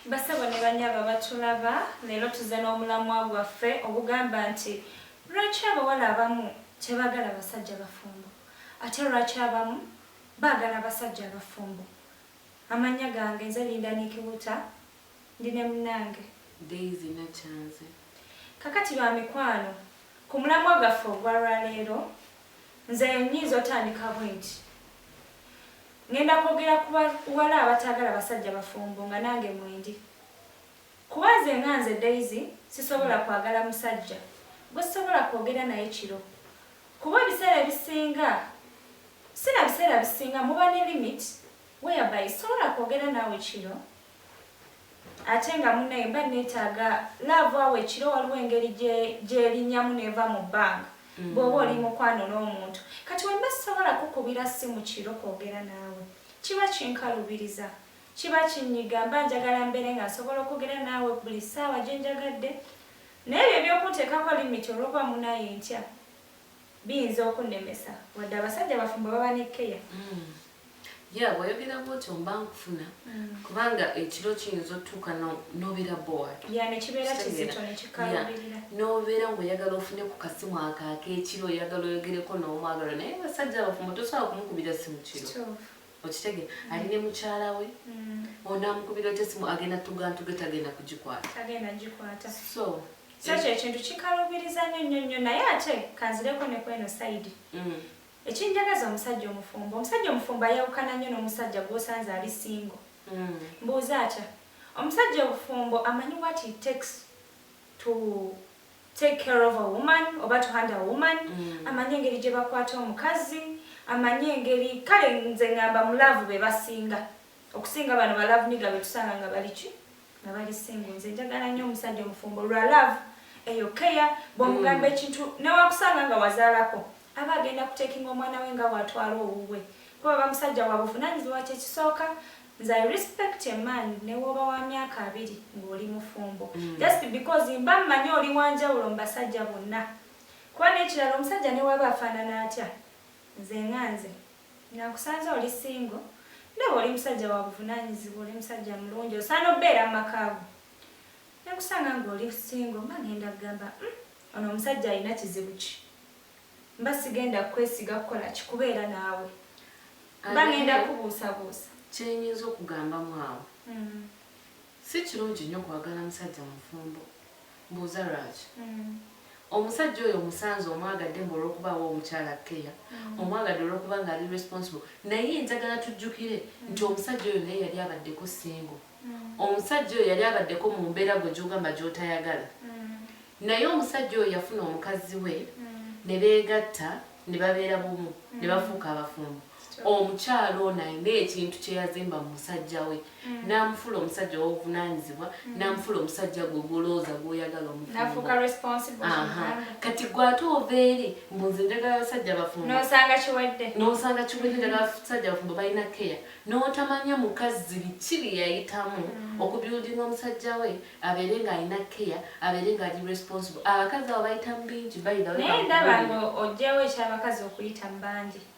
Bassebo ne banyabo abatulaba, leero tuzze n'omulamwa gwaffe ogugamba nti Lwaki abawala abamu tebagala basajja bafumbo ate lwaki abamu baagala abasajja abafumbo. Amannya gange nze Linda Nikiwuta ndi ne munnange. Daisy Nakyanzi. Kakati bamikwano ku mulamwa gwaffe ogwa lwaleero nze nyinza otandika bwenti, Ngenda kwogera ku ba wala abataagala basajja bafumbo nga nange mwendi. Kuba nze nga nze Daisy sisobola kwagala musajja gwe sisobola kwogera naye kiro. Kuba ebiseera ebisinga si na biseera bisinga muba ne limit whereby sisobola kwogera naawe kiro. ate nga munaye mba netaaga love awo ekiro waliwo engeri gyelinyamu neva mu bbanga mm. bwoba oli mukwano n'omuntu kati wemba sisobola kukubira simu kiro kwogera naawe kiba kinkalubiriza kiba kinyiga mba njagala mbeere nga nsobola okwogera naawe buli saawa gyenjagadde naye ebyo ebyokunteekako limiti olwokuba munaye ntya biyinza okunnemesa wadde abasajja bafumba baba ne keya mm. Yeah bwoyogera bwotyo mba nkufuna kubanga ekiro kiyinza otuuka no- nobeera bored ya nekibeera Kitegeera. kizito Yeah. nekikaluubirira nobeera ngaoyagala ofune ku kasimu ako akekiro oyagala oyogereko n'omwagalo naye basajja abafumbo tosobola kumukubira simu kiro Kituufu. okitegera ali ne mukyala we Mm, onamukubira otya simu agenda tugantuge tagenda kugikwata tagenda gikwata so so ekyo ekintu kikaluubiriza nnyo nnyo nnyo naye ate kanzireko ne kweno sayidi mm, Ekinjagaza omusajja omufumbo. Omusajja omufumbo ayawukana nnyo n'omusajja gw'osanze ali singo. Mbuuza atya? Omusajja obufumbo amanyi what it takes to take care of a woman oba to handle a woman. Amanyi engeri gye bakwata omukazi, amanyi engeri, kale nze ngamba mu laavu be basinga. okusinga bano ba love niga betusanga nga baliki nga bali singo nze njagala nnyo omusajja omufumbo lwa love eyo keya bwomugamba mm. ekintu newakusanga nga wazaalako aba agenda kutekinga omwana we nga watwala owuwe kuba bamusajja wa buvunanyizibwa kyekisooka nze i respect a man newoba wa myaka abiri ngaoli mufumbo mm. just because mba mmanyi oli wanjawulo mu basajja bonna kuba nekirala omusajja newaba afaanana atya nze nga nze Nakusanze oli single ndaba oli musajja wabuvunanyizibwa oli musajja mulungi osaana obbeera mumaka go nenkusanga nga oli single mba ngenda kugamba mm ono omusajja alina kizibu ki mba sigenda kukwesiga kukola ki kubeera naawe mba ngenda kubuusabuusa kyenyinza okugambamu awo mm. Si kirungi nnyo kwagala musajja mufumbo. Mbuuza lwaki? Omusajja oyo omusanze omwagadde mbu olw'okuba awa omukyala kkeya, omwagadde olw'okuba ng'ali responsible naye njagala tujjukire nti omusajja oyo naye yali abaddeko single. Omusajja oyo yali abaddeko mu mbeera gwe gy'ogamba gy'otayagala. Naye omusajja oyo yafuna omukazzi we ne beegatta ne babeera bumu ne bafuuka abafumbo. omukyala ono alina ekintu kyeyazimba mu musajja we mm. n'amufula omusajja w'obuvunaanyizibwa mm. n'amufula omusajja gwe gwolowooza gwoyagala omufumbokati gwe ate ova eri mbu nze njagala basajja bafumbonosanga kiwedde nosanga kiwedde njagala basajja bafumbo balina keya n'otamanya mukazi biki bye yayitamu mm. okubyudinga omusajja we abeere ng'alina keya abeere ng'ali responsible abakazi abo bayitamu bingi bayinaye ndaba nga ojjawo ekyabakazi okuyitamu bangi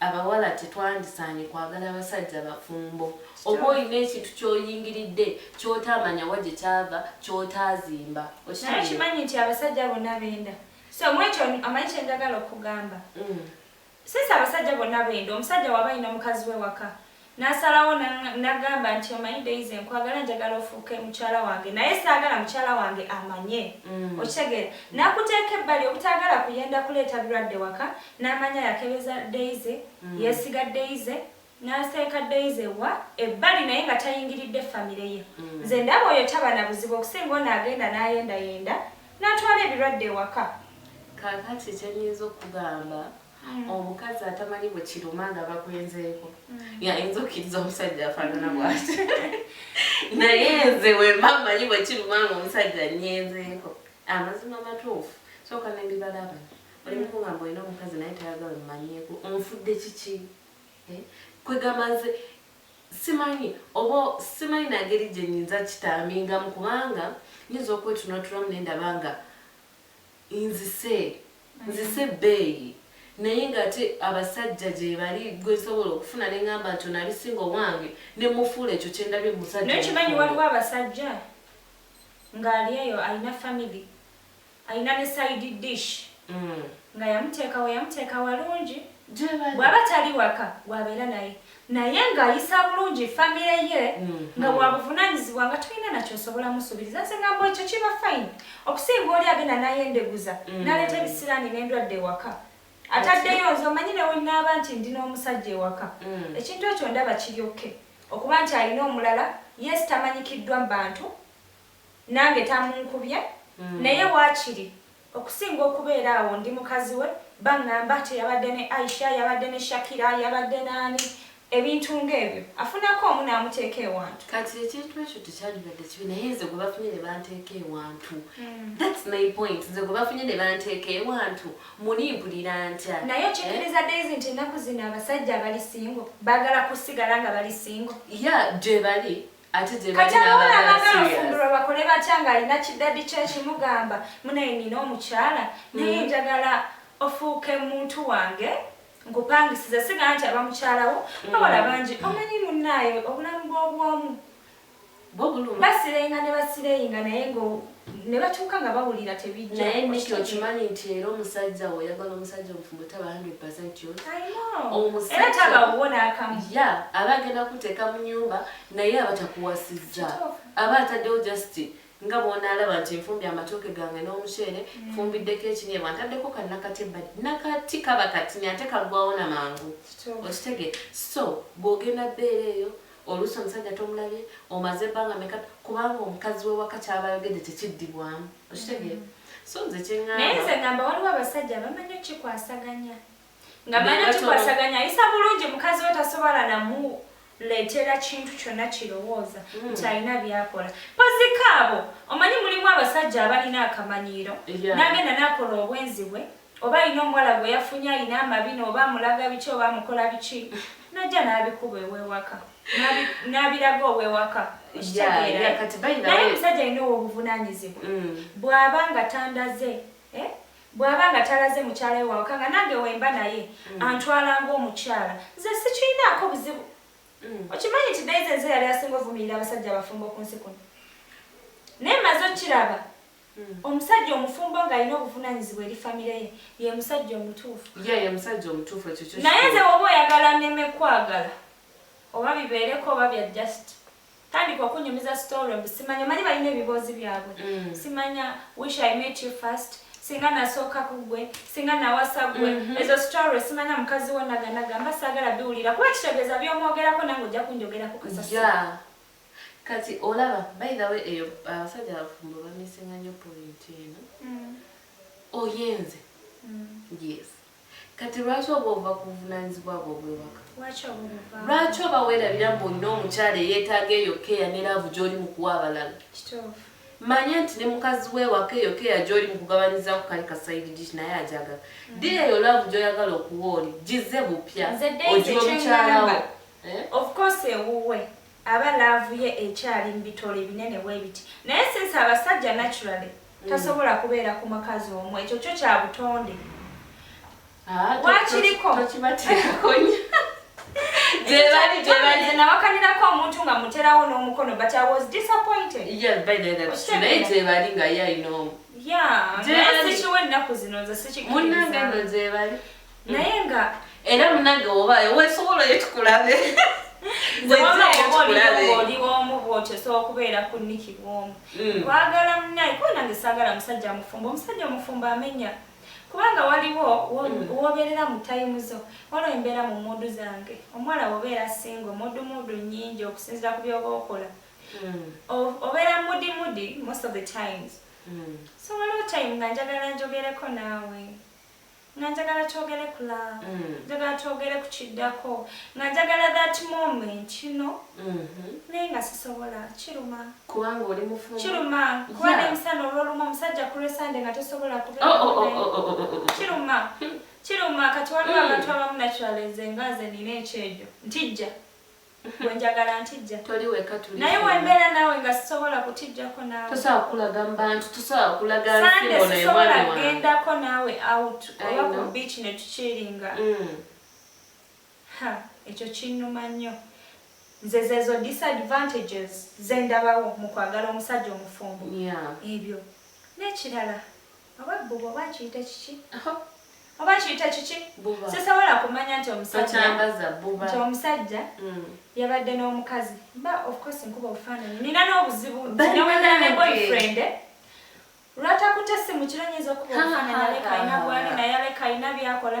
Abawala tetwandisaanye kwagala basajja bafumbo. Oba olina ekintu ky'oyingiridde ky'otaamanya wa gye kyava, ky'otaazimba. Naye Okitegeera? okimanyi nti abasajja bonna benda? So mwekyo omanyi kye njagala okugamba? Mm. Since abasajja bonna benda, omusajja waba alina mukazi we waka, Nasalawo nagamba nti omanyi Daisy nkwagala njagala ofuuke mukyala wange naye saagala mukyala wange amanye mm. okitegeera nakuteeka ebbali obutaagala kuyenda kuleeta birwadde waka n'amanya yakebeza Daisy mm. yesiga Daisy naseeka Daisy wa ebbali naye nga tayingiridde famire ye mm. nze ndaba oyo taba na buzibu okusinga ono agenda n'ayendayenda natwala ebirwadde ewaka kakati kyenyinza okugamba omukazi atamanyi bwe kiruma nga bakwenzeeko mm. yayinza okkiriza omusajja afaanana bwati naye nze wemba manyi bwe kiruma nga omusajja nyenzeeko amazima matuufu sooka nembibalaba oli mukugamba olina omukazi naye tayagala mumanyeeko onfudde kiki eh? kwegamba nze simanyi oba simanyi nangeri gye nyinza kitambingamu kubanga nyinza okwetunatulamu nendaba nga Nzise nzise ebbeeyi naye nga ate abasajja gyebali gwe nsobola okufuna ne ngamba nti ono ali singo owange ne mufuula ekyo kye ndabye mu musajja Naye okimanyi omufumbo. waliwo abasajja nga ali eyo alina family alina ne side dish nga yamuteekawo yamuteeka walungi Gyebali. bwaba tali waka gwabeera naye naye nga ayisa bulungi famire ye nga wabuvunanyizibwa nga tolina nakyosobola musubiriza nze ngamba ekyo kiba fine okusinga oli agenda nayendeguza mm. naleeta ebisiraani nendwadde ewaka ataddeyo nze omanyi newenaaba nti ndi n'omusajja ewaka mm. ekintu ekyo ndaba kiryokke okuba nti alina omulala yes tamanyikiddwa mu bantu Nange tamunkubye naye wakiri okusinga okubeera awo ndi mukazi we bangamba ati yabadde ne Aisha, yabadde ne Shakira, yabadde naani ebintu nga ebyo afunako omu namuteeka ewantu. Kati ekintu ekyo tekyandibadde kibi naye nze gwe bafunye ne banteeka ewantu that's my point nze gwe bafunye ne banteeka ewantu muli mpulira ntya? Naye okikkiriza Daisy nti ennaku zino abasajja abali single baagala kusigala nga bali single? Yeah gyebali kati abawala abagala ofumbirwa bakole batya ng'alina kiddadi kye kimugamba munaye nina omukyala naye mm. njagala ofuuke muntu wange nkupangisiza siga nti aba mukyalawo mm. bawala bangi omanyi munnaayo obulamu bw'obwomu basireyinga ne basireyinga naye nga ne batuuka nga bawulira tebijja naye niki okimanyi nti era omusajja wo oyagala omusajja omufumbo taba 100 era taba wo n'akamu ya aba agenda kuteeka mu nyumba naye aba takuwasizza aba ataddewo just nga bw'onaalaba nti nfumbi amatooke gange n'omuceere mm. nfumbiddeko ekinyebwa ntaddeko kannakati ebbali nakati kaba katinya ate kagwawo na mangu okitegee so bw'ogenda bbeera eyo Oluusi omusajja tomulabye, omaze bbanga meka, kubanga omukazi w'ewaka ky'aba ayogedde tekiddibwamu. Okitegeera? Mm-hmm. So nze kye ŋŋamba. Naye nze ŋŋamba waliwo abasajja abamanyi okukikwasaganya. Nga manyi okukikwasaganya ayisa bulungi mukazi we tasobola namu leetera kintu kyonna kirowooza mm. nti alina byakola pozikaabo omanyi mulimu abasajja abalina akamanyiiro nagenda nakola obwenzi bwe oba alina omuwala gwe yafunye alina amabina oba amulaga biki oba amukola biki najja n'abikuba ew'ewaka n'abiraga ow'ewaka naye omusajja alina ow'obuvunaanyizibwa mm. bw'aba nga tandaze eh? bw'aba nga talaze mukyala we wawaka nga nange wemba naye mm. antwala ng'omukyala nze sikirinaako buzibu mm. okimanyi nti daize nze yali asinga ovumirira abasajja abafumbo ku nsi kuno naye maze okukiraba Omusajja omufumbo ng'alina obuvunanyizibwa eri famire ye ye musajja omutuufu. Ye ye musajja omutuufu ekyo kyo. Naye nze woba oyagala neme kwagala oba bibeereko oba bya just tandika okunyumiza story mbu simanya omanyi balina ebiboozi byabwe mm. simanya wish i met you first singa nasooka ku gwe singa nawasa gwe mm -hmm. ezo story simanya mukazi wo naganagamba saagala biwulira kuba kitegeeza byomwogerako nange ojja kunjogerako kasasi yeah. Kati olaba by the way eyo abasajja abafumbo bamisinga nyo point eno oyenze yes kati lwaki oba ova kuvunanyizibwa bwo obwewaka lwaki oba werabira mbu olina omukyala eyetaaga eyo keya ne laavu gyoli mukuwa abalala manya nti ne mukazi wewaka eyo keya gyoli mukugabanyiza ku kali kasaidi dish naye ajagala mm. dira eyo laavu gyoyagala okuwa oli gize bupya ogiwa mukyalawo Eh? Of course ewuwe aba love ye ekyali mbitole ebinene bwebiti naye since abasajja naturally mm. tasobola kubeera ku makazi omu ekyo kyo kya butonde ah, wakiriko nawakanirako omuntu nga muterawo n'omukono but i was disappointed gyebali nga ye alina omu munange no gyebali naye nga era munange obayo wesobola oyo tukulabe oliwomu bwotyo sobola okubeera ku niki bwomu mm. kwagala munaye kuba nange sagala musajja mufumbo omusajja omufumbo amenya kubanga waliwo mm. wobeerera mu tayimu zo waliwo embeera mu muudu zange omuwala wobeera singa omuudu muudu nyingi okusinzira ku byoba okola mm. obeera mudi mudi most of the times so waliwo time nga njagala njogereko naawe nga njagala twogere ku love mm. njagala twogere ku kiddako nga njagala that moment you know mm-hmm. naye nga sisobola kiruma kubanga oli mufumu kiruma kuba ne musana olwolumu omusajja ku lwesande nga tosobola kubekiruma oh, oh, oh, kiruma kati waliwo mm. abantu abamu naturalize nga ze nina ekyejo ntijja Gwe njagala ntijja. Toli weka tuli. Naye wembeera naawe nga sisobola kutijjako naawe. Tosobola kulaga mu bantu, tosobola kulaga nsi bona ewana. Sande sisobola gendako naawe out oba ku beach ne tukiringa. Mm. Ha, ekyo kinnuma nnyo. Nze zezo disadvantages ze ndabawo mu kwagala omusajja omufumbo. Yeah. Ebyo. N'ekirala. Oba bbuba oba nkiyite kiki? Oba nkiyite kiki? Sisobola kumanya nti omusajja nti omusajja mm. yabadde n'omukazi ba of course nkuba obufaananyi nina n'obuzibu nti newegala ne boyfriend lwatakutte essimu kiro nyinza okuba obufaananyi aleka alina bwali naye aleka alina byakola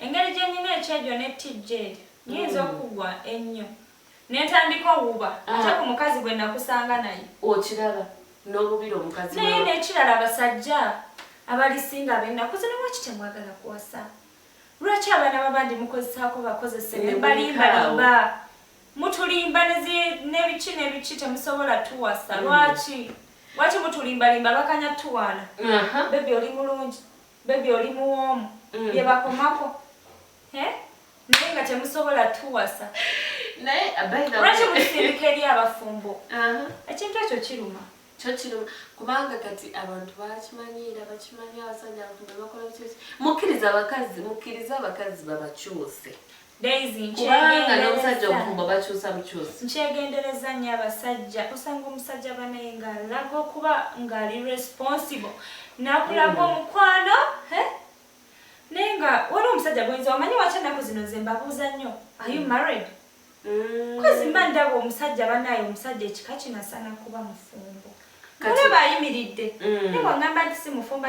Engeri gye nnina ekyejo ne tijjeeri, nnyinza mm. okugwa ennyo ne ntandika owuba ah. ate ku mukazi gwe nakusanga naye. Okiraba n'obubira omukazi naye n'ekirala abasajja abalisinga ab'ennaku zino lwaki temwagala kuwasa? Lwaki abaana babandi mukozesaako bakozese ne balimbalimba mutulimba n'ebiki n'ebiki temusobola tuwasa mm. lwaki? Lwaki mutulimbalimba bakanya tuwaana? Bebi oli mulungi. Baby oli muwoomu mm. byebakomako eh? naye nga temusobola tuwasa lwaki musindika eri abafumbo uh-huh. ekintu ekyo kiruma kyo kiruma kubanga kati abantu bakimanyiira bakimanyi abasajja abantu bebakola mukkiriza abakazi mukkiriza abakazi babakyuse kubanga n'omusajja omufumbo bakyusa bukyusi nkyegendereza nnyo abasajja osanga omusajja banaye ng'alaga okuba ng'ali responsible nakulaga mm. omukwano naye nga waliwo omusajja gwenza omanyi waki ennaku zino nze mbabuuza nnyo are you mm. married mm. kozi mba ndaba omusajja banaye omusajja ekika kino asaana kuba mufumbo olaba ayimiridde naye wangamba nti si mufumbo